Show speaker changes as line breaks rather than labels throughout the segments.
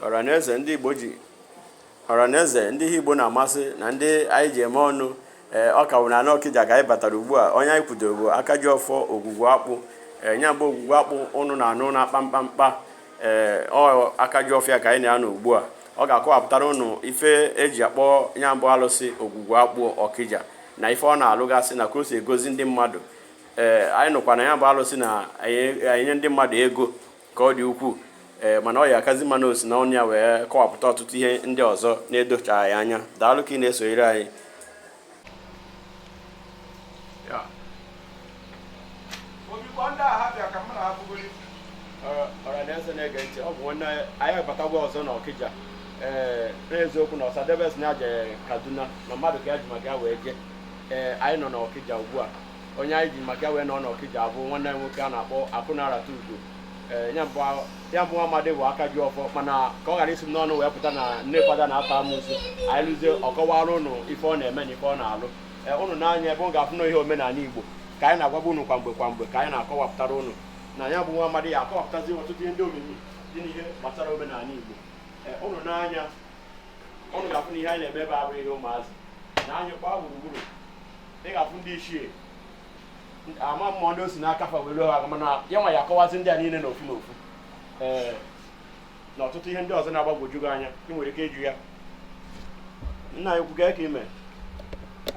ọranaeze ndị igbo ji ọranaeze ndị ihe igbo na-amasị na ndị anyị ji eme ọnụ ee ọ ka wụ na ọkịja ka anyị batara ugbu a onye anyị kwudoro bụ aka ji ọfọ ogwugwu akpụ ee nya bụ ogwugwu akpụ ụnụ na-anụ na kpamkpamkpa ee ọ aka ji ọfọ ya ka anyị na ya nọ ugbu a ọ ga-akọwapụtara ụnụ ife e ji akpọ nya bụ alụsị ogwugwu akpụ ọkịja na ife ọ na-alụgasị na ka o si egozi ndị mmadụ ee anyị nụkwa na ya bụ alụsị na-enye ndị mmadụ ego ka ọ dị ukwuu ee mana ọ ya-akazi mma na o si na ọnụ ya wee kọwapụta ọtụtụ ihe ndị ọzọ na-edochaghị anya daalụ ka ị na-esonyere anyị ọhaneze na-ege ntị ọ bụ nwanne anyị abatagwa ọzọ na ọkịja ee n'eziokwu na ọsadebe sị na ya je kaduna na mmadụ ka ya ji maka ya wee jee ee anyị nọ na ọkịja ugbu a onye anyị ji maka ya wee nọ n'Ọkịja a bụ nwanne anyị nwoke a na-akpọ Akụnarata Ugo ee ya bụ ya bụ amadị bụ aka ji ọfọ mana ka ọ ghara isi m n'ọnụ wee pụta na nne fada na-ata amụsụ anyị luzie ọ kọwara ụnụ ife ọ na-eme na ife ọ na-alụ ee ụnụ nee anya ebe ọ ga-afụ na ihe omenala Igbo ka anyị na-agwabu ụnụ kwa mgbe kwa mgbe ka anyị na-akọwapụtara ụnụ na ya bụ nwa amadị ya-akọwapụtazi ọtụtụ ihe ndị omimi dị n'ihe gbasara omenala Igbo ee ụnụ nee anya ụnụ ga-afụ na ihe anyị na-eme ebe a abụrọ ihe ụmụazị na anyị gbaa gburugburu ị ga-afụ ndị ichie ama mmụọ ndị o si n'aka fa were ha mana ya nwa ya-akọwazi ndị a niile n'ofu n'ofu ee na ọtụtụ ihe ndị ọzọ na-agbagwoju gị anya ị nwere ike ịjụ ya nna anyị ukwu kee ka i mee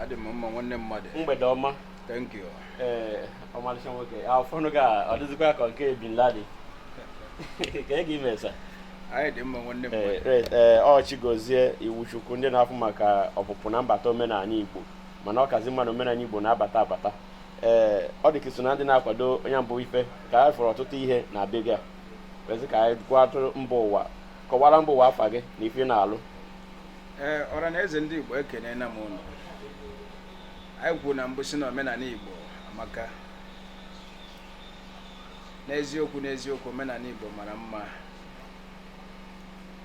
adị
m mma nwanne mmadụ mgbede
ọma thank
you ee
ọmalịcha nwoke afọnụ gị a ọ dịzikwa ka nke bin laden kee ka i mee sa anyị dị mma
nwanne mmadụ ee ọ chigozie
iwuchukwu ndị na-afụ maka ọpụpụ na mbata omenala igbo mana ọ kazi mma na omenala Igbo na-abata abata ee eh, ọ dị ka i so na ndị na-akwado nya bụ ife ka anyị fụrụ ọtụtụ ihe na be gị a wezi ka anyị gwatụ mba ụwa kọwara mba ụwa afa gị na ife ị na-alụ ee eh, ọra
na eze ndị Igbo ekenena m ụnụ anyị kwuru na mbụ sị na omenala Igbo amaka n'eziokwu n'eziokwu omenala Igbo mara mma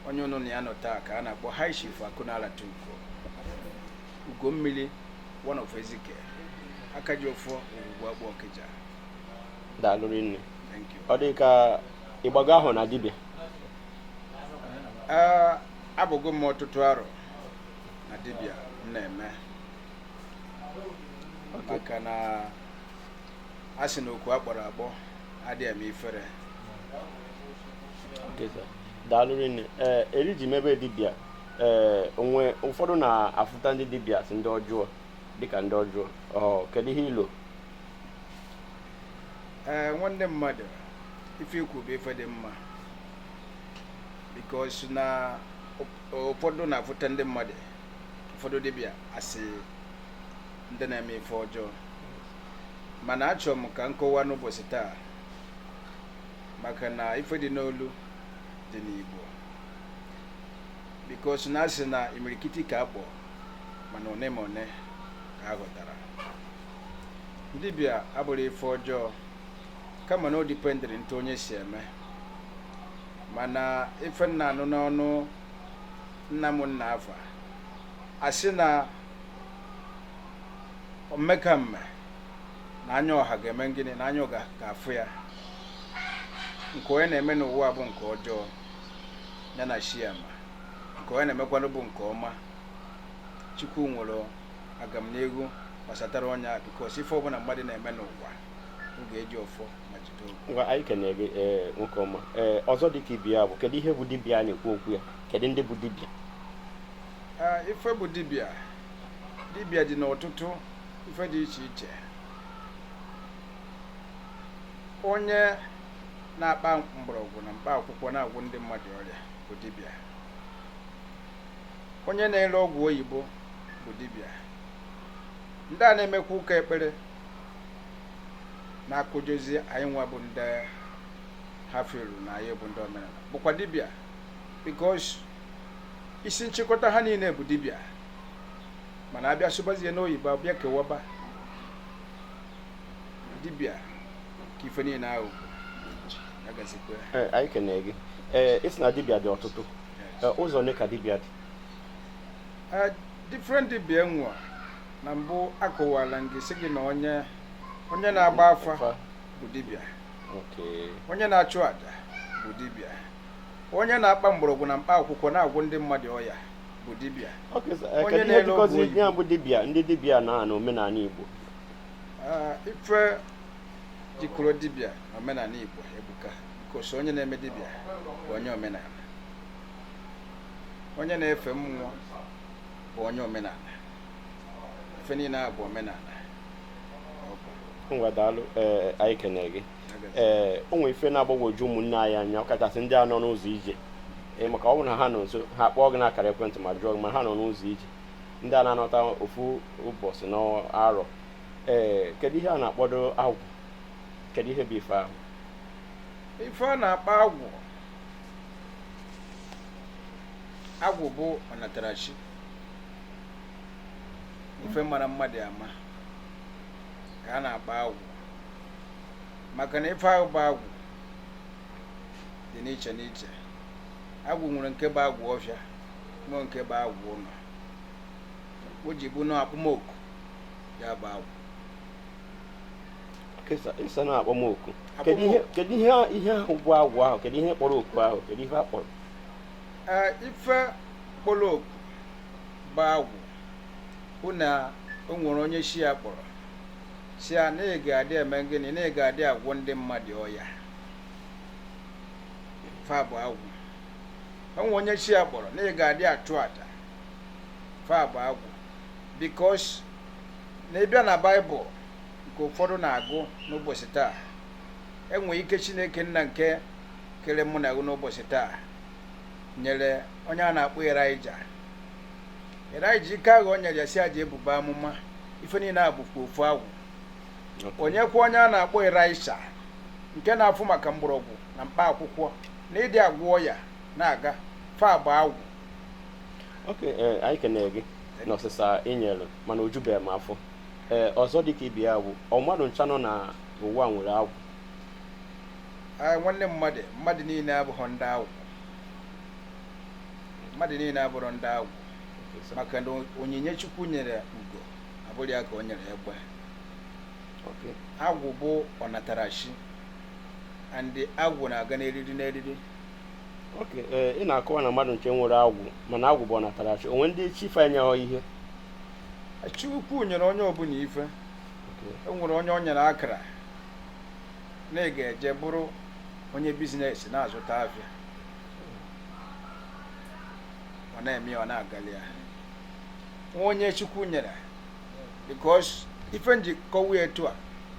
onye ụnụ na ya nọ taa ka a na-akpọ High Chief Akụnalata Ugo Ugommiri one of Ezike aka ji ọfọ ogwugwu akpụ Ọkịja
daalụ rinne thank you ọ dị ka ị gbago ahọ na dibịa Ee,
abụgo m ọtụtụ arọ na dibịa m na-eme maka na a sị na okwu a kpọrọ akpọ adịghị eme ifere Okay,
sir. daalụ rinne ee eri i ji mebe dibịa ee eh, o nwe ụfọdụ na-afụta ndị dibịa as ndị ọjọọ dịka ndị ọjọọ kedu ihe i
lo ee eh, nwanne mmadụ ife i kwu bụ ife dị mma because na ụfọdụ na-afụta ndị mmadụ ụfọdụ dibịa as ndị na-eme ife ọjọọ mana achọrọ m ka m kọwaa n'ụbọchị taa maka na ife dị n'Olu dị n'Igbo because na a sị na imirikiti ka a kpọ mana one ma one ka a ghọtara dibịa abụrọ ife ọjọọ kama na o dependịrị n'etu onye si eme mana ife m na-anụ n'ọnụ nna m nna afa a sị na mmekamme na anya ọha ga-eme gịnị na anya ọha ga-afụ ya nke onye na-eme n'ụwa bụ nke ọjọọ ya na chi ya ma nke onye na-emekwanụ bụ nke ọma Chukwu nwere agamnihu gbasatara onye a because ife ọbụla mmadụ na-eme n'ụwa ọ ga-eji ọfọ ma jide ogu ngwa anyị kenere gị ee
nwoke ọma ee ọzọ dị ka ibe ya bụ kedu ihe bụ dibịa a na-ekwu okwu ya kedu ndị bụ dibịa
Ah, ife bụ dibịa dibịa dị n'ọtụtụ ife dị iche iche onye na-akpa mgbọrọgwụ na mkpa akwụkwọ na-agwọ ndị mmadụ ọrịa bụ dibịa onye na-ere ọgwụ oyibo bụ dibịa ndị a na-emekwa ụka ekpere na-akụjọzi anyị nwa bụ ndị ha fụlụ na anyị bụ ndị omenala bụkwa dibịa because isi nchịkọta ha niile bụ dibịa mana a bịa sụbazie n'oyibo a bịa kewaba dibịa ka ife niile ahụ ya gazikwa ya Ee, anyị
kenere gị ee ị sị na dibịa dị ọtụtụ Ee, ụzọ ole ka dibịa dị Eh,
different dibịa e nwe na mbụ akọwala m gị sị gị na onye onye na-agba afa Afa. bụ dibịa Okay. onye na-achụ aja bụ dibịa onye na-akpa mgbọrọgwụ na mkpa akwụkwọ na-agwọ ndị mmadụ ọya bụ dibịa Okay, so, eh, Onye kedu ihe
na-ele ọgwụ jikọzi oyibo. ya bụ dibịa ndị dibịa na na omenala Igbo
Ah, ife jikọrọ dibịa na omenala Igbo ebuka because onye na-eme dibịa bụ onye omenala onye na-efe mmụọ bụ onye omenala ife niile a bụ omenala Ọ bụ.
ngwa daalụ ee anyị kenere gị ee o nwere ife na-agbagwoju ụmụnne anyị anya ọkachasị ndị a nọ n'ụzọ ije ee maka ọ bụrụ na ha nọ nso ha kpọọ gị n'akara ekwentị ma jụọ gị ma ha nọ n'ụzọ ije ndị a na-anọta ofu ụbọchị n'arọ ee kedu ihe a na-akpọdụ agwụ kedu ihe bụ ife ahụ ife
a na-akpọ agwụ agwụ bụ ọnatarachi ife mara mmadụ ama ka a na-akpọ agwụ maka na ife ahụ bụ agwụ dị n'iche n'iche agwụ nwere nke bụ agwụ ọfịa nwee nke bụ agwụ ụlọ o ji bụ na akpọmoku ya bụ
agwụ Kesa- ị sị na akpọmoku kedu ihe Akpọmoku. kedu ihe ihe ahụ bụ agwụ ahụ kedu ihe kpọrọ oku ahụ kedu ihe a kpọrọ
Ee, ife kpọrọ oku bụ agwụ bụ na o nwere onye chi ya kpọrọ sị ya na ị ga-adị eme gịnị na ị ga-adị agwọ ndị mmadụ ọya ife a bụ agwụ o nwee onye chi ya kpọrọ na ị ga-adị achụ aja ife a bụ agwụ because na ị bịa na baịbụl nke ụfọdụ na-agụ n'ụbọchị taa e nwee ike chineke nna nke kere mụ na gị n'ụbọchị taa nyere onye a na-akpọ Elijah Elijah ike ahụ o nyere ya sị ya je buba amụma ife niile a bụkwa ofu agwụ o nyekwa onye a na-akpọ Elisha nke na-afụ maka mgbọrọgwụ na mkpa akwụkwọ na ịdị agwọ ọya na-aga ife a bụ agwụ
ok ee anyị kene gị na ọsịsa ị nyere mana o jubeghị m afọ ee ọzọ dịka ibe ya bụ ọ mmadụ ncha nọ na ụwa nwere agwụ Ee,
nwanne mmadụ mmadụ niile abụrọ ndị agwụ mmadụ niile abụrọ ndị agwụ maka na onyinye chukwu nyere ugo abụrọ ya ka o nyere egbe ok agwụ bụ ọnatarachi and agwụ na-aga n'eriri n'eriri ok
ee ị na-akọwa na mmadụ ncha nwere agwụ mana agwụ bụ ọnatarachi o nwe ndị chi fa enyeghọ ihe
chukwu nyere onye ọbụla ife Ok. o nwere onye o nyere akara na ị ga-eje bụrụ onye business na-azụta afịa ọ na-eme ya ọ na-agali ya nwee onye chukwu nyere because ife m ji kwuo etu a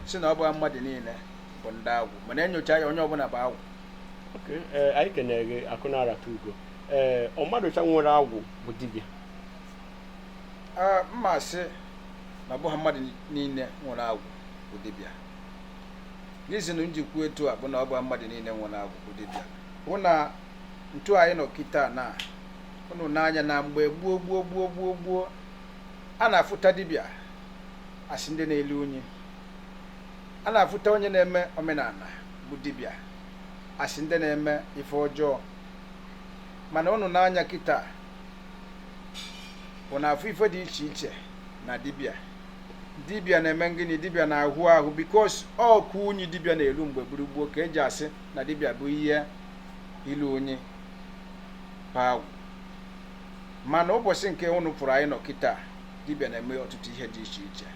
sị na ọ bụghị mmadụ niile bụ ndị agwụ mana e nyochaa ya onye ọbụla bụ agwụ eh, anyị
kenere gị akụ na-arata ugo ee eh, ọ mmadụ ncha nwere agwụ bụ dibịa ah,
mma sị na ọ bụghị mmadụ niile nwere agwụ bụ dibịa reason m ji kwuo etu a bụ na ọ bụghị mmadụ niile nwere agwụ bụ dibịa bụ na ntu anyị nọ kịta na ụnụ n'anya na mgbe gboo gboo a na-afụta dibịa asị ndị na-elu unyi a na-afụta onye na-eme omenala bụ dibịa asị ndị na-eme ife ọjọọ mana ụnụ n'anya kịta ụnụ na-afụ ife dị iche iche na dibịa dibịa na-eme ngịnị dibịa na-ahụ ahụ because ọkụ unyi dibịa na-elu mgbe gboo gboo ka e ji asị na dibịa bụ ihe ilu unyi pa agwụ mana ụbọchị nke ụnụ pụrụ anyị nọ kịta dibịa na-eme ọtụtụ ihe dị iche
iche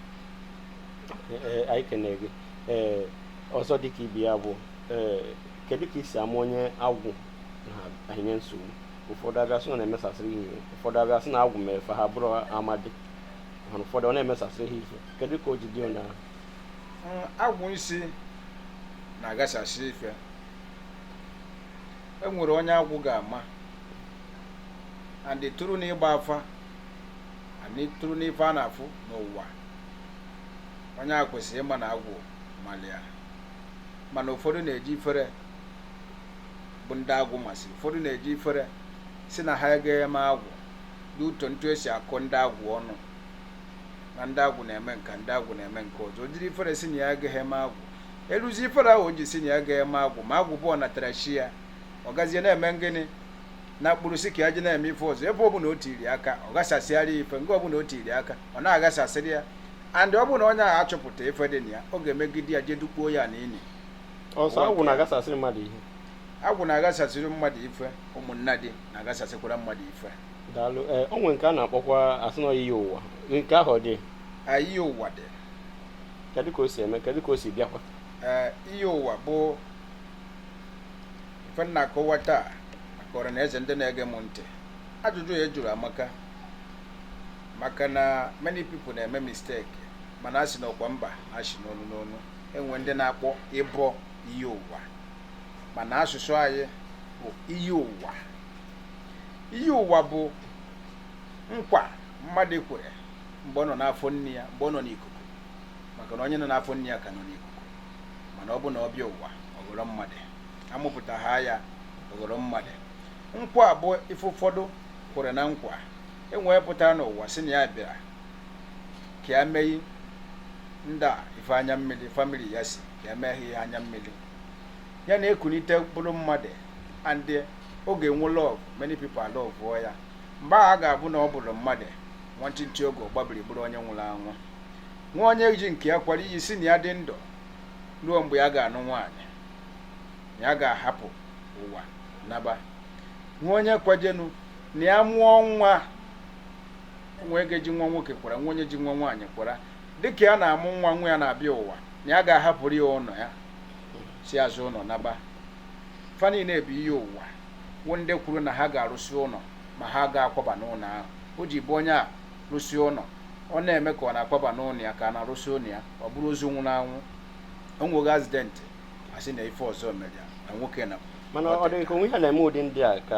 Ee, anyị kenere gị ee ọzọ dịka ibe ya bụ ee kedu ka e si ama onye agwụ na-enye nsogbu ụfọdụ abịa sị na ọ na-emesasịrị ha ihe ụfọdụ abịa sị na agwụ mere fa ha bụrụ amadi mana ụfọdụ ọ na-emesasịrị ha ihe kedu ka o ji dị onye ahụ
Mm, agwụ ị sị na-agasasị ife e nwere onye agwụ ga-ama and tụrụ n'ịgba afa and tụrụ n'ife a na-afụ n'ụwa onye a kwesịrị ịma na agwụ malị ya mana ụfọdụ na-eji ifere bụ ndị agwụ masị ụfọdụ na-eji ifere sị na ha agaghị eme agwụ due to otu e si akọ ndị agwụ ọnụ na ndị agwụ na-eme nke a ndị agwụ na-eme nke ọzọ o jiri ifere sị na ya agaghị eme agwụ eruzi ifere ahụ o ji sị na ya agaghị eme agwụ ma agwụ bụ ọnatarachi ya ọ gazie na-eme ngịnị na mkpụrụ sị ka ya je na-eme ife ọzọ ebe ọbụla o tiri aka ọ ghasasịara ya ife nke ọbụla o tiri aka ọ na-aghasasịrị ya and ọ bụrụ na onye ahụ achọpụta ife dị na ya ọ ga-emegide ya jee dukpuo
ya
n'ini ọ sọ agwụ
na-agasasịrị
mmadụ ihe agwụ na-aghasasịrị mmadụ ife ụmụnnadị na-aghasasịkwara mmadụ ife daalụ ee o
nwere nke a na-akpọkwa asị na iyi ụwa nke ahụ ọ dị iyi ụwa
dị kedu ka o
si eme kedu ka o si bịakwa ee iyi ụwa
bụ ife m na-akọwa taa akọrọ na eze ndị na-ege m ntị ajụjụ a ị jụrụ amaka maka na many people na-eme mistake mana a sị na ọkwa mba na-achị n'onu n'onu e nwe ndị na-akpọ ịbọ iyi ụwa mana asụsụ anyị bụ iyi ụwa iyi ụwa bụ nkwa mmadụ kwere mgbe ọ nọ n'afọ nne ya mgbe ọ nọ n'ikuku maka na onye nọ n'afọ nne ya ka nọ n'ikuku mana ọ bụ na ọ bịa ụwa ọ ghọrọ mmadụ a mụpụtaha ya ọ ghọrọ mmadụ nkwa bụ ife ụfọdụ kwere na nkwa e nwee pụtara n'ụwa sị na ya bịara ka ya meghi ndị a ife anya mmiri family ya sị ka ya meghi ihe anya mmiri ya na-ekunite bụrụ mmadụ and ọ ga-enwe love many people alọvụọ ya mgbe a ga-abụ na ọ bụrụ mmadụ nwantịntị oge ọ gbabiri bụrụ onye nwụrụ anwụ nwee onye ji nke ya kwara iyi sị na ya dị ndụ ruo mgbe ya ga-anụ nwaanyị ya ga-ahapụ ụwa naba nwee onye kwajenu na ya mụọ nwa nwee onye ji nwa nwoke kwara nwee onye ji nwa nwaanyị kwara dịka ya na-amụ nwa nwa ya na-abịa ụwa na ya ga-ahapụrụ ya ụlọ ya si azụ ụlọ naba fa niile bụ iyi ụwa nwee ndị kwuru na ha ga-arụsi ụlọ ma ha ga-akwaba n'ụlọ ahụ o ji bụ onye a rụsie ụlọ ọ na-eme ka ọ na-akwaba n'ụlọ ya ka a na-arụsi ụlọ ya ọ bụrụ ozu nwụrụ anwụ o nweghị accident a sị na ife ọzọ mere ya na nwoke na mana ọ dị ka o nwe ihe
na-eme ụdị ndị a ka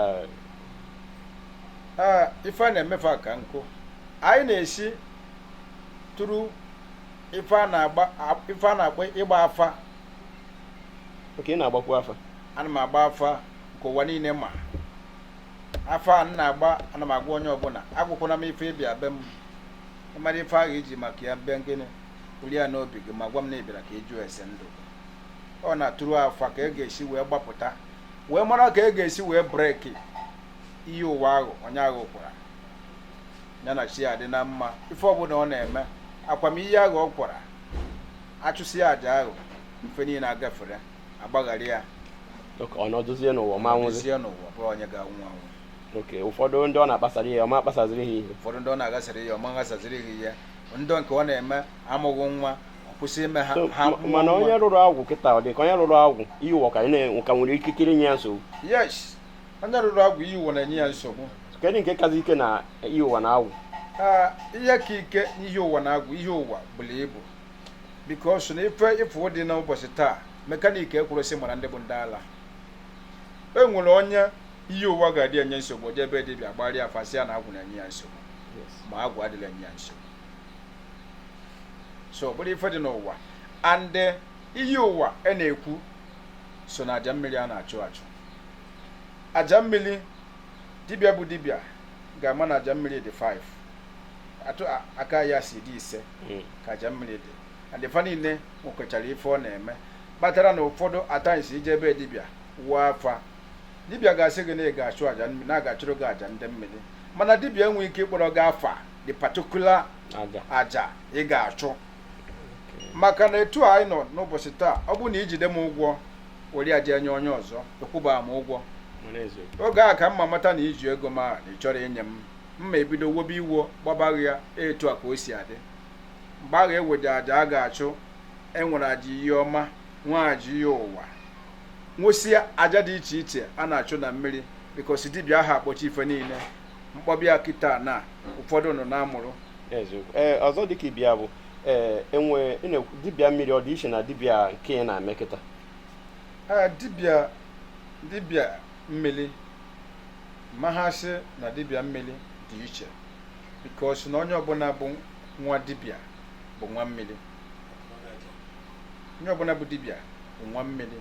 ee
ife a na-emefe a ka nkụ anyị na-esi tụrụ ife a na-agba ife a na-akpọ ịgba afa
ok ị na-agbakwu afa ana m agba afa
nke ụwa niile ma afa a m na-agba ana m agwa onye ọbụla agwakwala m ife ị bịa be m mara ife ahụ i ji maka ya bịa ngị bulu ya n'obi gị ma gwa m na ị bịara ka ị jụọ ese ndụ ọ na-atụrụ afa ka e ga-esi wee gbapụta wee mara ka e ga-esi wee break iyi ụwa ahụ onye ahụ kwara ya na chi ya dị na mma ife ọbụla ọ na-eme akwam iyi ahụ ọ kwara a chụsịa aja ahụ ife niile agafere agbaghara ya Ok, ọ
nọdụzie n'ụwa ma nwụzi dozie n'ụwa bụrụ onye
ga-anwụ anwụ ok
ụfọdụ ndị ọ na-akpasara ya ọ ma akpasaziri ha ihe ụfọdụ ndị ọ na-aghasara ya
ọ ma aghasaziri ha ihe ndị nke ọ na-eme amụghị nwa ọ kwụsị ime ha So, ha ma- mụọ mana nwa. onye
rụrụ agwụ kịta ọ dị ka onye rụrụ agwụ iyi ụwa ka na- ka nwere ikikere nye ya nsogbu
yes onye rụrụ agwụ iyi ụwa na-enye ya nsogbu kedu nke kazi ike
na iyi ụwa na agwụ Ee, ihe
ka ike n'iyi ụwa na agwụ iyi ụwa buru ibu because na ife ị fụ dị n'ụbọchị taa mekanik ekwerozi mara ndị bụ ndị ala e nwere onye iyi ụwa ga-adị enye nsogbu o je ebe dibịa gbarịa afa sị ya na agwụ na-enye ya nsogbu ma agwụ adịghị enye ya nsogbu so ọ bụrụ ife dị n'ụwa and iyi ụwa a e na-ekwu so na aja mmiri a na-achụ achụ aja mmiri dibịa bụ dibịa ga-ama na aja mmiri dị 5 etu aka ya si dị ise hmm. ka aja mmiri dị and fa niile nwekwechara ife ọ na-eme kpatara na ụfọdụ at times i je ebe dibịa wụọ afa dibịa ga-asị gị na ị ga-achụ aja mmiri na a ga-achụrụ gị aja ndị mmiri mana dibịa enweghị ike ịkpọrọ gị afa the particular aja ị ga-achụ maka na etu anyị nọ n'ụbọchị taa ọ bụrụ na i jide m ụgwọ were ya je enye onye ọzọ ị kwụba m ụgwọ oge a ka m ma mata na i ji ego ma na ị chọrọ inye m m ma ebido wobe iwo gbabaghị ya etu a ka o si adị mgbe a ga-eweje aja a ga-achụ enwere aja iyi ọma nwee aja iyi ụwa nwesịa aja dị iche iche a na-achụ na mmiri because dibịa aha akpọchi ife niile m kpọba ya kịta na ụfọdụ nọ na-amụrụ eziokwu ee
ọzọ dịka ibe ya bụ ee enwe ị na-ekwu dibịa mmiri ọ dị iche na dibịa nke ị na-eme kịta ee dibịa
dibịa mmiri m ma asị na dibịa mmiri dị iche because na onye ọbụla bụ nwa dibịa bụ nwa mmiri onye ọbụla bụ dibịa bụ nwa mmiri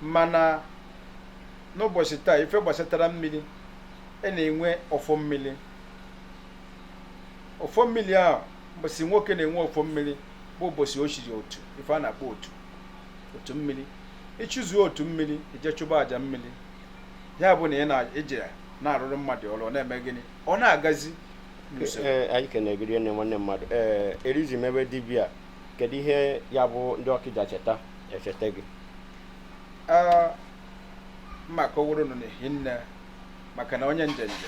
mana n'ụbọsị taa ife gbasatara mmiri a na-enwe ọfọ mmiri ọfọ mmiri ahụ mbọsị nwoke na-enwe ọfọ mmiri bụ ụbọsị o chiri otu ife a na-akpọ otu otu mmiri i chizuo otu mmiri i jee chụba aja mmiri ya bụ na ị na-eji ya na-arụrụ mmadụ ọrụ ọ na-eme gịnị ọ na-agazi n'usoro
Ee, anyị kenere gị nne nwanne mmadụ ee erizi m ebe dibịa kedu ihe ya bụ ndị ọkịja cheta echeta gị Ee, m
ma akọwara unu n'ehinne maka na onye njenje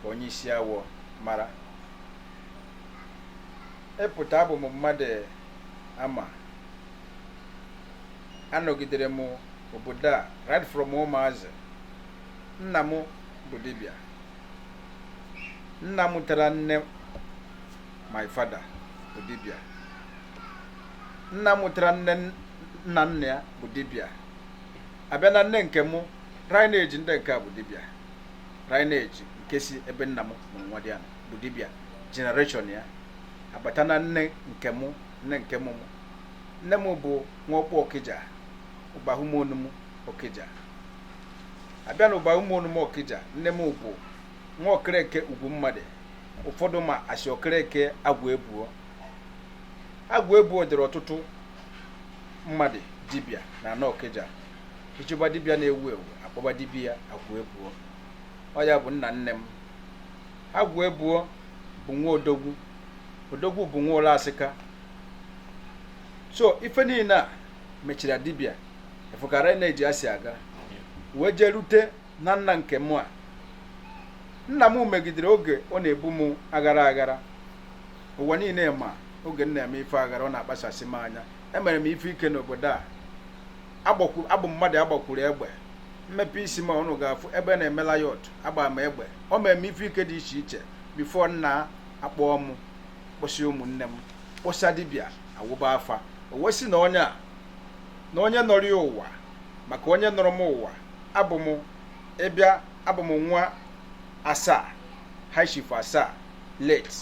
ka onye isi awọ mara ịpụta abụ m mmadụ ama anọgidere m obodo a right from ụmụazị nna m bụ dibịa nna mụtara nne my father bụ dibịa nna mụtara nne nna nna ya bụ dibịa abịa na nne nke mụ lineage ndị nke a bụ dibịa lineage nke si ebe nna m na nwadịana bụ dibịa generation ya a bata na nne nke mụ nne nke mụ mụ nne m bụ nwa ọkpụ ọkịja ụbahụmonum ọkịja abịa na ụbahụmonum ọkịja nne m bụ nwa okereke ugwu mmadụ ụfọdụ ma asị okereke agwụ ebuo agwụ ebuo dịrị ọtụtụ mmadụ dibịa n'ana ọkịja ị chọba dibịa na-ewu ewu akpọba dibịa agwụ ebuo ọ ya bụ nna nne m agwụ ebuo bụ nwa odogwu odogwu bụ nwa ụlọ asịka so ife niile a mechara dibịa ị fụ ka lineage a si aga wee jee rute na nna nke mụ a nna m megidere oge ọ na-ebu m aghara aghara ụwa niile ma oge m na-eme ife aghara ọ na-akpasasị m anya emere m ife ike n'obodo a abụ m mmadụ agbakwuru egbe m mepe isi m a ụnụ ga-afụ ebe a na-eme riot a gba m egbe ọ mere m ife ike dị iche iche before nna akpọọ m kpọsịa ụmụnne m kpọsịa dibịa awụba afa o wee sị na onye a na onye nọrọ ya ụwa maka onye nọrọ m ụwa abụ m ịbịa abụ m nwa asaa high chief asaa late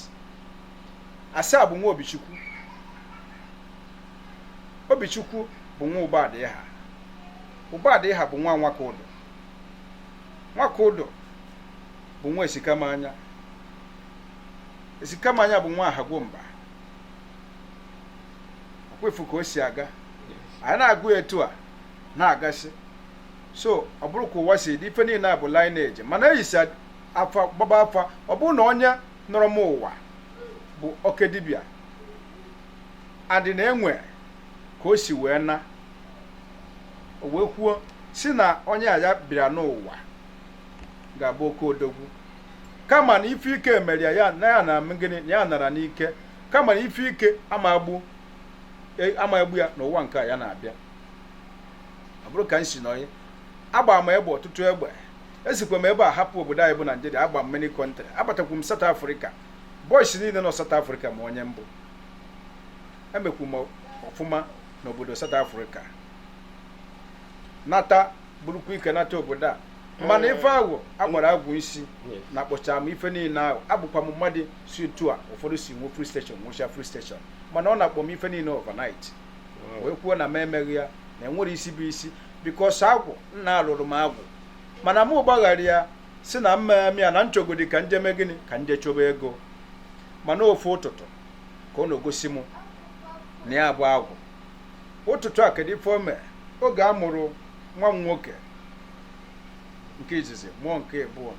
asaa bụ nwa obichukwu obichukwu bụ nwa ụbadịha ụbadịha bụ nwa nwakaudo nwakaudo bụ nwa esikamanya esikamanya bụ nwa ahagwomba ọkwa ị fụ ka o si aga anyị na-agụ ya etu a na-agasị so ọ bụrụ ka ụwa si dị ife niile a bụ lineage mana eyisi afa gbaba afa ọ bụrụ na onye nọrọ m ụwa bụ oke dibịa and na enwe ka o si wee na o wee kwuo si na onye a ya bịara n'ụwa ga-abụ oke odogwu kama na ife ike emere ya ya na ya na m gịnị na ya nara n'ike kama na ife ike ama agbu e- ama egbu ya n'ụwa nke a ya na-abịa ọ bụrụ ka m si n'onye agba m egbe ọtụtụ egbe esikwa m ebe a hapụ obodo anyị bụ naijiria agba m many country abatakwu m south africa boys niile nọ south africa ma onye m bụ emekwu m ọfụma n'obodo south africa nata burukwu ike nata obodo a mana ife ahụ agbara agwụ isi nakpọcha m ife niile ahụ abụkwa m mmadụ si otu a ụfọdụ si nwe filling station nwecha filling station mana ọ nakpọ m ife niile overnight wee kwuo na m emeghị ya na enwere isi bụ isi bikos agwụ nna alụrụ m agwụ mana m gbaghara ya si na m ma eme ya na m chọgodi ka m je mee gịnị ka m je chọba ego mana ofu ụtụtụ ka ọ na-egosi m na ya bụ agwụ ụtụtụ a kedu ife o mee oge a mụrụ nwa m nwoke nke izizi mụọ nke abụọ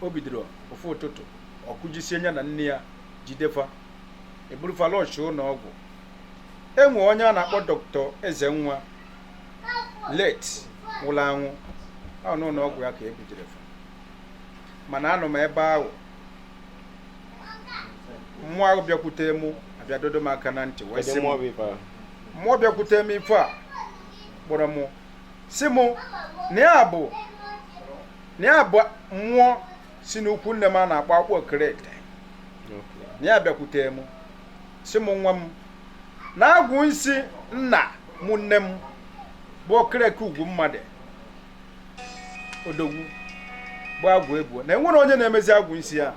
o bidoro ofu ụtụtụ ọkụ jisie ya na nne ya jide fa eburu fa rush ụlọ ọgwụ enwe onye a na-akpọ dọkịta ezenwa late nwụrụ anwụ ọ n'ụlọ ọgwụ ya ka ebujere fa mana anọ m ebe ahụ mmụọ ahụ bịakwute mụ abịa dọdọ m aka na ntị wee sị m mmụọ bịakwute m ife a kpọrọ mụ si mụ na ya bụ na ya bụ mmụọ si n'ikwu nne m a na-akpọ akpụ okerete na ya bịakwute mụ si mụ nwa m na agwụ nsị nna mụ nne m bụ okereke ugwu mmadụ odogwu bụ agwụ ekwuo na enwere onye na-emezi agwụ m sị ya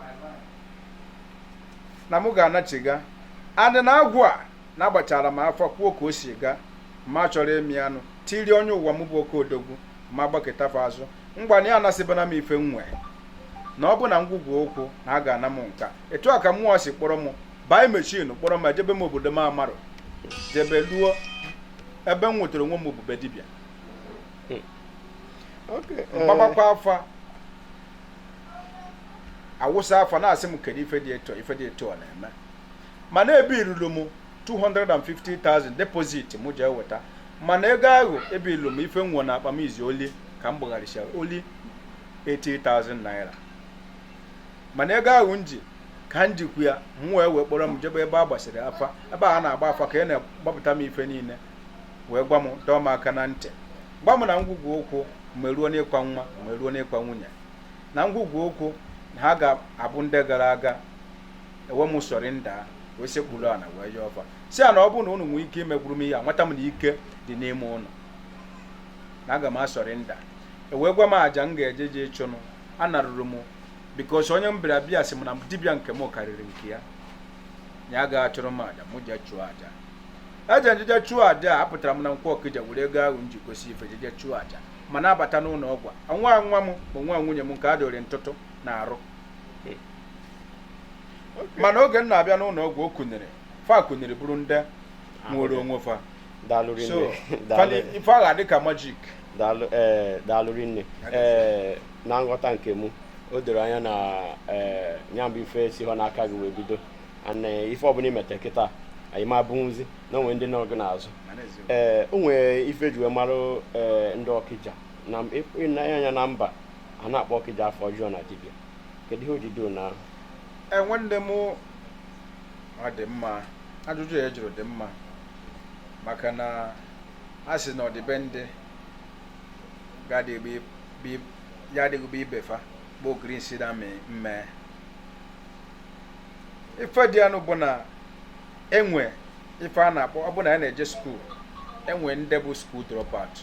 na mụ ga-anachiga adị na agwụ a na-agbachara m afa kwuo ka o si ga ma chọrọ emi anụ tiri onye ụwa m bụ oke odogwu ma gbaketafa azụ mgbana ya anasịbana m ife m nwee na ọ bụ na ngwugwu ụkwụ na a ga-ana m nka etu a ka mmụọ si kpọrọ m bai mechin kpọrọ m ejebe m obodo m amarọ jebe luo ebe m nwetara onwe m ọ bụ be dibịa m gbabakwa eh. afa awụsa afa na-asị m kedu ife dị etu ọ na-eme mana ebirulu m 250,000 deposit m je eweta mana ego ahụ ebirulu m ife m nwe na akpa m is only ka m gbagharịcha only 80,000 naira mana ego ahụ m ji ka m jikwu ya m wee wee kpọrọ m jebe ebe a gbasịrị afa ebe a na-agba afa ka a na-agbapụta m ife niile wee gwa m dọọ m aka na ntị gwa m na ngwugwu ụkwụ ma eruo n'ịkwa nwa ma eruo n'ịkwa nwunye na ngwugwu ụkwụ na ha ga-abụ ndị gara aga ewe m surrender wee sekpuru ana wee yọọ fa sị ha na ọ bụrụ na unu nwee ike imegburu m ya amata m na ike dị n'ime unu na aga m asurrender ewee gwa m aja m ga-eje je ịchụnụ anaruru m bikos onye m bịara be ya sị m na dibịa nke m karịrị nke ya ya agaghị achụrụ m aja m jee chụọ aja eje m jeje chụọ aja a apụtara m na Nkwọ Ọkịja were ego ahụ m ji gosị ife jeje chụọ aja m na-abata n'ụnọ ọgwụ a nwa nwa m bụ nwa nwunye m nke a dụrụ ntụtụ na arụ mana oge m na-abịa n'ụnọ ọgwụ o kuniri fa kuniri bụrụ ndị nwere onwe fa daalụ so rinne daalụ fali- ife ahụ dị ka majik daalụ
ee daalụ rinne ee na nghọta nke mụ o doro anya na ee ya bụ ife esihụ n'aka gị wee bido ana eh, ife ọbụla i mete kịta anyị ma abụnwuzi na o nwere ndị nọ gị n'azụ ee eh, o nwere ife e ji wee mara eh, ndị Ọkịja na ịnanya anya na mba a na-akpọ Ọkịja afa ọjọọ na dibịa kedu ihe o ji doo na nwanne m
ọ dị mma ajụjụ ị jụrụ dị mma maka na a sị na ọ dị be ndị ya adịghị be ibe fa bụ ogiri nsị na mmee ife dị ya nụ bụ na enwe ife a na-akpọ ọ bụ na a na-eje skuul enwe ndị bụ skuul dropout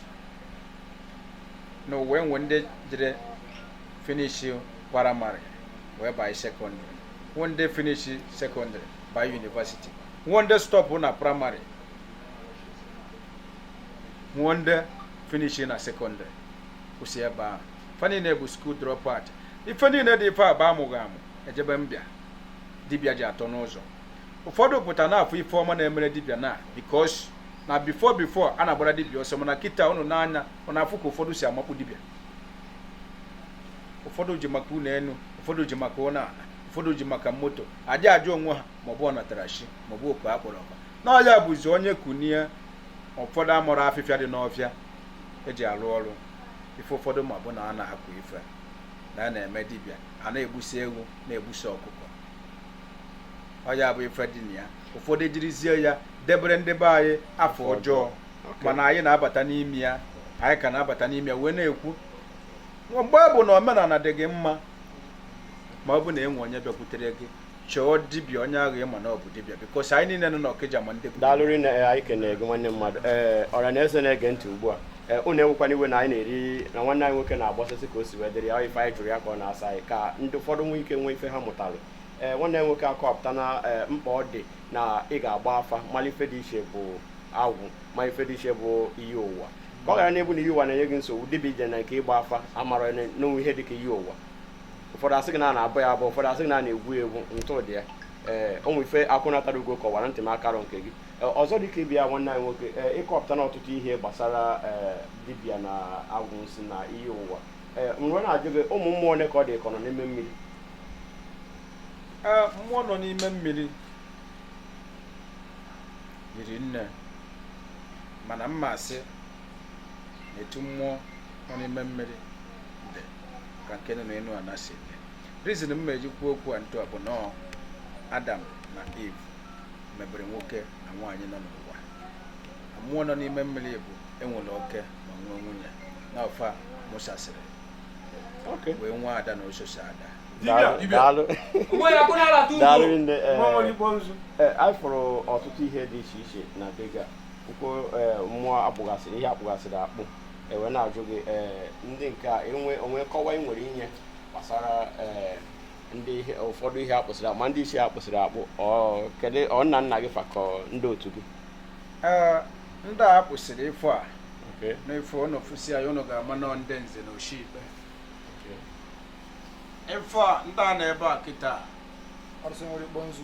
n'ụwa enwe ndị jere finishi praịmarị wee banye sekọndịrị nwe ndị finishi sekọndịrị banye yunivasiti nwe ndị stọpụ na praịmarị nwe ndị finishi na sekọndịrị kwụsị ebe ahụ ife niile bụ skuul dropout ife niile dị ife bụ amụghị amụ ejebe mbịa dibịa ji atọ n'ụzọ ụfọdụ pụta na-afụ ife ọma na-emere dibịa na bikos na bifo bifo a na-agbara dibịa ọsọ mana kịta unu n'anya ọ na-afụ ka ụfọdụ si amakpu dibịa ụfọdụ ji maka ụlọ enu ụfọdụ ji maka ụlọ ala ụfọdụ ji maka moto adị ajụ onwe ha maọbụ ọnatara chi maọbụ oku akpọrọ akpọ na ọ ya bụzi onye kunie ụfọdụ amụrọ afịfịa dị n'ọfịa eji arụ ọrụ ife ụfọdụ ma bụ na a na-akụ ife na a na-eme dibịa a na-egbusi ewu na-egbusi ọkụkọ ọ ya bụ ife dị na ya ụfọdụ ejirizie ya debere ndị be anyị afa ọjọọ mana anyị na-abata n'ime ya anyị ka na-abata n'ime ya wee na-ekwu mgbe ọ bụ na omenana dị gị mma ma ọ bụ na enwe onye bịakwutere gị chọọ dibịa onye ahụ ị ma na ọ bụ dibịa bikos anyị niile nọ n'Ọkịja ma ndị bụ daalụ rinne eh, anyị
kenere gị nwanne mmadụ ee eh, ọra na eze na-ege ntị ugbu a eh, unu ewekwana iwe na anyị na-eri na nwanne anyị nwoke na-agbasasị ka o si wee dịrị ya ife anyị jụrụ ya ka ọ na-asa anyị ka ndị ụfọdụ nwee ike nwee ife ha mụtara ee nwanne anyị nwoke akọpụtana mkpa ọ dị na ị ga-agba afa mala ife dị iche bụ agwụ ma ife dị iche bụ iyi ụwa ka ọ ghara na-abụ na iyi ụwa na-enye gị nsogbu dibịa ije na nke ịgba afa amara na o nwe ihe dị ka iyi ụwa ụfọdụ asị gị na a na-abọ ya abọ ụfọdụ asị gị na a na-egwu ya egwu ntụ dị ya ee ụmụ ife akwụnatara ugo kọwara ntị m akarọ nke gị ọzọ dịka ịbịa nwanne anyị nwoke ee ị kọpụtana ọtụtụ ihe gbasara ee dibịa na agwụ nsị na iyi ụwa ee m wee na-ajụ gị ụmụ mmụọ ole ka ọ dị ka ọ nọ n'ime mmiri
ee mmụọ nọ n'ime mmiri riri nne mana m ma-asị na etu mmụọ nọ n'ime mmiri dị ka nke nọ n'enu ana si dị rizin m eji kwuo okwu a ntu a bụ na ọ Adam na Eve mebere nwoke na nwaanyị nọ n'ụwa mmụọ nọ n'ime mmiri bụ enwere oke ma nwee nwunye na ọfa mụsasịrị wee nwee ada na ososi ada daalụ
nne anyị fụrụ ọtụtụ ihe dị iche iche na be gị Okwu eh, mmụọ akpụgasịrị ihe akpụgasịrị akpụ ewe na-ajụ gị eh, ndị nke a o nwe nkọwa ị nwere inye gbasara eh, ndị ihe- ụfọdụ ihe akpụsịrị akpụ ma ndị isi akpụsịrị akpụ ọ kedu ọ nna nna gị fa ka ọ ndị otu gị
Ee, ndị a kpụsịrị ife a Okay. n'ife unu fụsi ya unu ga-ama na ọ ndị nze na oshi ikpe ife a ndị a na ebe a kịta arụsị nwere ikpo nzu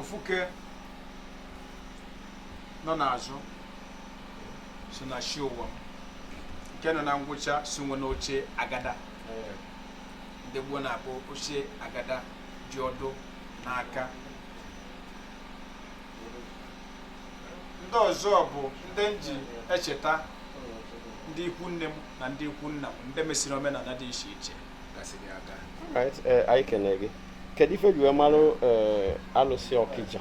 ofuke nọ n'azụ so na shi ụwa m nke nọ na ngwụcha so nwe n'oche agada ndị gboo na-akpọ oche agada ji ọdụ n'aka ndị ọzọ bụ ndị m ji echeta ndị ikwu nne m na ndị ikwu nna m ndị mesịrị omenala dị iche iche gasịrị aga Right, eh, anyị
kene gị kedu ife e ji wee marụ eh, alụsị Ọkịja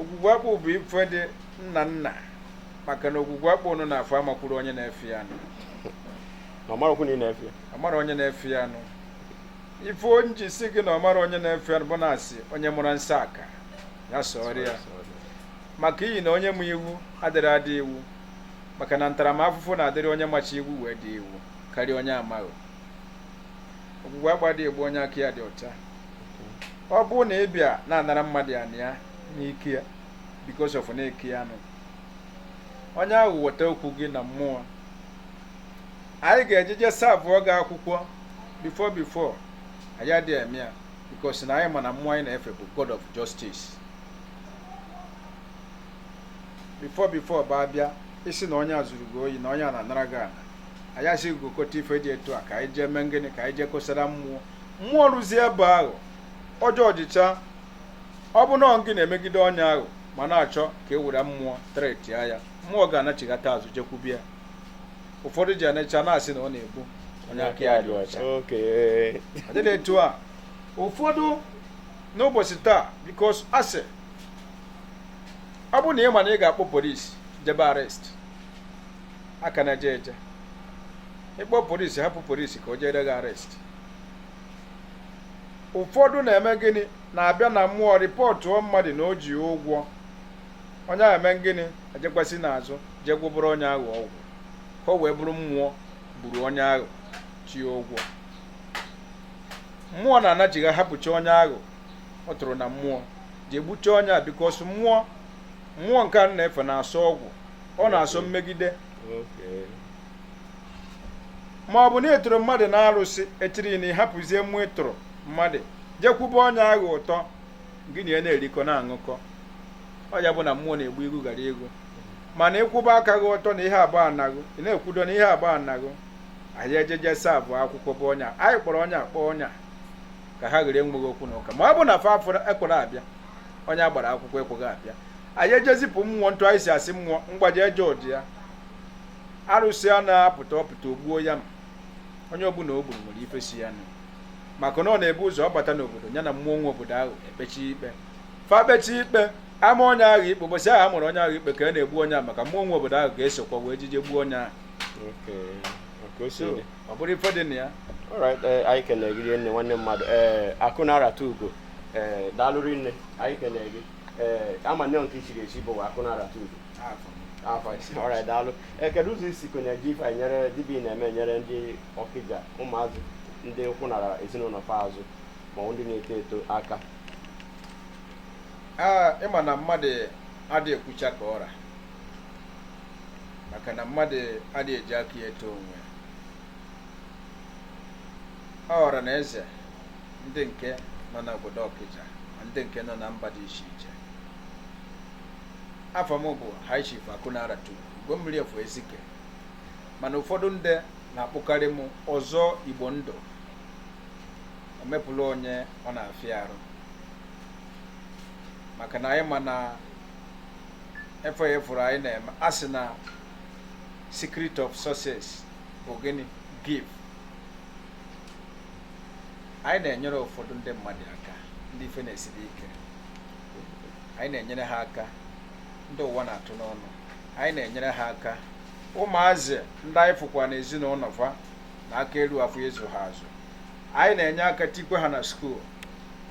ogwugwu akpụ bụ ife ndị nna nna maka na ogwugwu akpụ nụ na-afọ amakwuru onye na-efe ya nụ na ọ
marakwu na ị na-efe ya ọ mara onye na-efe ya
nụ ife m ji sị gị na ọ mara onye na-efe ya nụ bụ na a sị onye mụrụ nsọ aka ya sọrọ ya maka ihi na onye ma iwu adịghị ada iwu maka na ntaramahụhụ na-adịrị onye macha iwu wee daa iwu karịa onye amaghị ogwugwu akpụ adịghị egbu onye aka ya dị ọcha ọ bụrụ na ị bịa na-anara mmadụ ana ya n'ike ya because of na ị ka ya nụ onye ahụ weta okwu gị na mmụọ anyị ga-ejeje savụọ gị akwụkwọ before before anyị adịghị eme ya because na anyị ma na mmụọ anyị na-efe bụ God of justice before before bụ a bịa sị na onye a zuru gị oyi na onye a na-anara gị ana anyị asị gị gokọta ife dị etu a ka anyị jee mee ngịnị ka anyị jee kosara mmụọ mmụọ ruzie ebe ahụ ọ jọjịchaa ọ bụ na ọ gị na-emegide onye ahụ ma na-achọ ka e were mmụọ tretia ya mmụọ ga-anachighata azụ jekwube ya ụfọdụ ji anọcha na-asị na ọ na-egbu onye aka ya dị ọcha Okay. ọ dịghị etu a ụfọdụ n'ụbọchị taa because a sị ọ bụrụ na ị ma na ị ga-akpọ polisi jebe arrest a ka na-eje eje ịkpọ polisi hapụ polisi ka o jere gị arrest ụfọdụ na-eme gịnị na-abịa na mmụọ rịpọtụọ mmadụ na o ji ụgwọ onye ahụ eme gịnị ejekwasị n'azụ jee gwụbụrụ onye ahụ ọgwụ ka o wee bụrụ mmụọ gburu onye ahụ ji ụgwọ mmụọ na-anachigha ahapụcha onye ahụ ọ tụrụ na mmụọ jee gbuchaa onye a because mmụọ mmụọ nke a na-efe na-asọ ọgwụ ọ na-asọ mmegide ma ọ bụ na ị tụrụ mmadụ n'arụsị echiri na ị hapụzie mmụọ ị tụrụ mmadụ jekwube onye ahụ ụtọ gị na ya na-erikọ na-aṅụkọ ọ ya bụ na mmụọ na-egbu igu gara ego mana ị kwụba aka gị ọtọ na ihe a bụ ana gị ị na-ekwudo na ihe a bụ ana gị anyị ejeje savụọ akwụkwọ bụ onye a anyị kpọrọ onye a kpọọ onye a ka ha ghere enweghị okwu na ụka ma ọ bụ na fa afọ ekwere abịa onye a gbara akwụkwọ ekweghị abịa anyị ejezipụ mmụọ ntụ anyị si asị mmụọ mgbaji eje ụdị ya arụsị a na-apụta ọ pụta o gbuo ya ma onye ọbụla o gburu nwere ife si ya nụ maka na ọ na-ebu ụzọ ọ bata n'obodo ya na mmụọ nwe obodo ahụ ekpechi ikpe fa kpechi ikpe ama onye ahụ ikpe ụbọchị ahụ a mara onye ahụ ikpe ka a na-egbu onye ahụ maka mmụọ nwe obodo ahụ ga-esokwa wee jije gbuo onye ahụ Okay. ka o si dị ọ bụrụ ife dị na ya alright eh, anyị kene
gị nne nwanne mmadụ ee eh, akụ na-arata ugo ee eh, daalụ rinne anyị kene gị ee a ma na nke i chiri echi bụ akụ na-arata ugo alright daalụ ee kedu ụzọ i sikwanụ ji ife nyere dibịa na-eme nyere ndị ọkịja ụmụazị ndị ụkwụ nara ezinụlọ fa azụ ma ndị na-eto eto aka
ah, ị ma na mmadụ adịghị ekwucha ka ọ ra maka na mmadụ adịghị eji aka ya eto onwe ọ bụ ọra na eze ndị nke nọ n'obodo ọkịja ma ndị nke nọ na mba dị iche iche afa m bụ High Chief akụ na-arata ugo mmiri efu ezike mana ụfọdụ ndị na-akpọkarị m ọzọ igbo ndụ omepụlụ onye ọ na-afịa arụ maka na anyị ma na ife a ị fụrụ anyị na-eme a sị na secret of success bụ gịnị give anyị na-enyere ụfọdụ ndị mmadụ aka ndị ife na-esiri ike anyị na-enyere ha aka ndị ụwa na-atụ n'ọnụ anyị na-enyere ha aka ụmụazị ndị anyị fụkwa na ezinụlọ fa na aka elu afọ ịzụ ha azụ anyị na-enye aka tikwe ha na school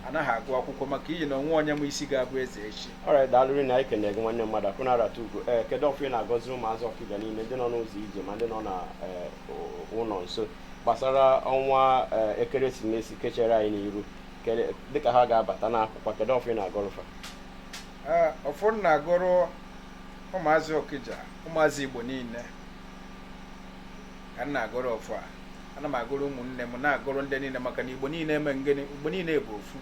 ha na-aga agụ akwụkwọ maka ihi na onwe onye ma isi ga-abụ eze echi alright daalụ rinne anyị
kene gị nwanne mmadụ akụ na-arata ugo ee kedu ọfọ ị na-agọziri ụmụazị ọkịja niile ndị nọ n'ụzọ ije ma ndị nọ na ee, ụ- ụlọ nso gbasara ọnwa ee, ekeresimesi kechere anyị n'iru Kele- dịka ha ga-abata n'akwụkwọ kedu ọfọ ị na-agọrọ fa Ee,
ọfọ m na-agọrọ ụmụazị ọkịja ụmụazị igbo niile ka m na-agọrọ ọfọ a ana m agọrọ ụmụnne m na-agọrọ ndị niile maka na igbo niile eme gịnị igbo niile bụ ofu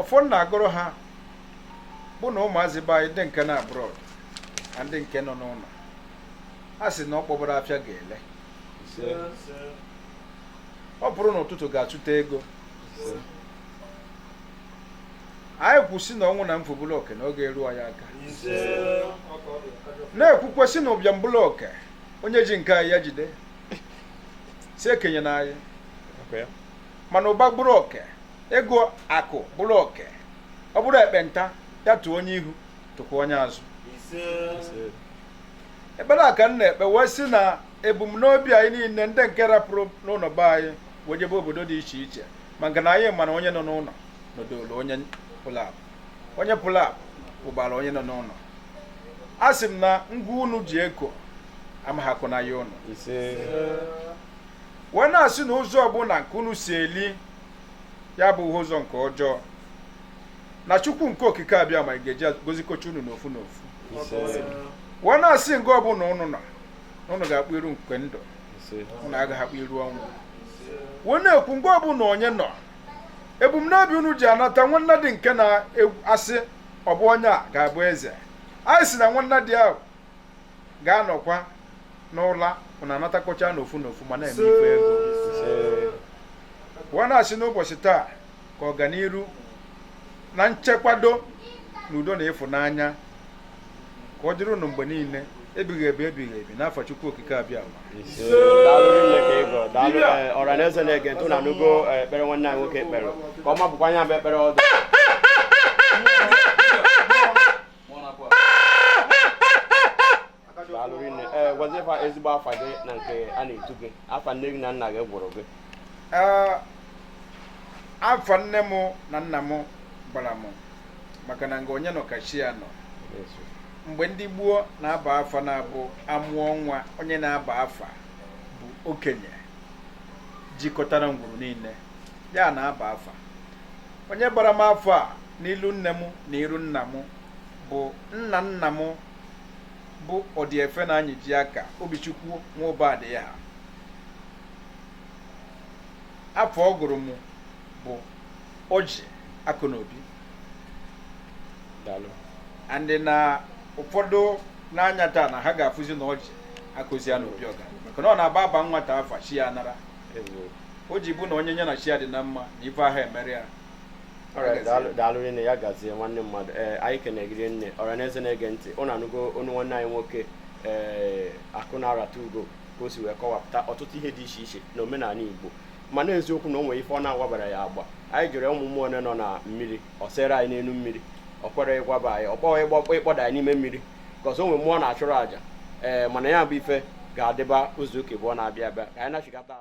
ọfọ m na-agọrọ ha bụ na ụmụazị be anyị ndị nke nọ abroad na ndị nke nọ n'ụlọ a sị na ọ kpọbara afịa ga-ele ọ pụrụ n'ụtụtụ ga-achụta ego anyị kwuo sị na ọnwụ na mfu bụlụ oke na oge eruo anyị aka na-ekwukwe sị na ụbịam bụlụ oke onye ji nke anyị ya jide sị ekenyena anyị mana ụba bụrụ oke ego akụ bụrụ oke ọ bụrụ ekpenta ya tụọ onye ihu tụkwa onye azụ ekpere a ka m na-ekpe wee sị na ebumnobi anyị niile ndị nke rapụrụ n'ụlọ be anyị wee jebe obodo dị iche iche maka na anyị ma na onye nọ n'ụlọ nọdụlụ onye pụlụ apụ onye pụlụ apụ gbara onye nọ n'ụlọ a sị m na ngwa unu ji eko amaha akọ na ya ụnụ wee na-asị na ụzọ ọbụla nke unu si eli ya abụha ụzọ nke ọjọọ na chukwu nke okike abiama ga-eji gozikocha unu n'ofu n'ofu wee na-asị nga ọbụla ụnụ nọ na ụnụ ga-akpụ iru nke ndụ unu agaghị akpụ iru ọnwụ wee na-ekwu nga ọbụla onye nọ ebumnobi unu ji anata nwannadi nke na-asị ọ bụ onye a ga-abụ eze anyị sị na nwannadi ahụ ga-anọkwa n'ụla unu anatakọcha n'ofu n'ofu ma na-eme ife ego wee na-asị n'ụbọchị taa ka ọganiru na nchekwado na udo na ịfụnanya ka ọ dịrị unu mgbe niile ebighị ebi ebighị ebi n'afa Chukwu Okike
Abiama ọra na eze na-ege ntị unu anụgo eh, ekpere nwanne anyị nwoke kpere ka ọ mabụkwa anya bụ ekpere ọdụ eh, gwazie fa ezigbo afa gị na nke a na-etu gị afa nne gị na nna gị gụrụ gị eh,
afa nne m na nna m gbara m maka na nga onye nọ ka chi ya nọ mgbe ndị gboo na-aba afa na-abụ amụọ nwa onye na-aba afa bụ okenye jikọtara ngwuru niile ya na-aba afa onye bara m afa n'iru nne m na iru nna m bụ nna nna m bụ ọdịefe na anyị ji aka obichukwu nwa ụba dị ya ha afa ọ gụrụ m bụ o ji akụ na obi and na ụfọdụ n'anya taa na ha ga-afụzi na o ji akụzi ya na obi ọga maka na ọ na-abụ a baa nwata afa chi ya anara o ji bụ na onye nye na chi ya dị na mma na ife ahụ emere
ya daalụ rinne ya gazie nwanne mmadụ ee anyị kene gị rinne ọra na eze na-ege ntị unu anụgo onu nwanne anyị nwoke ee akụ na-arata ugo ka o si wee kọwapụta ọtụtụ ihe dị iche iche na omenani igbo mana eziokwu na o nwere ife ọ na-agwabara ya agba anyị jụrụ ụmụ mmụọ one nọ na mmiri o sere anyị n'elu mmiri o kwero ịgwaba anyị ọ kpọghị ịkpọda anyị n'ime mmiri ka o si nwee mmụọ a na-achụrụ àjà ee mana ya bụ ife ga-adịba izu ụka abụọ na-abịa abịa ka anyị nachigata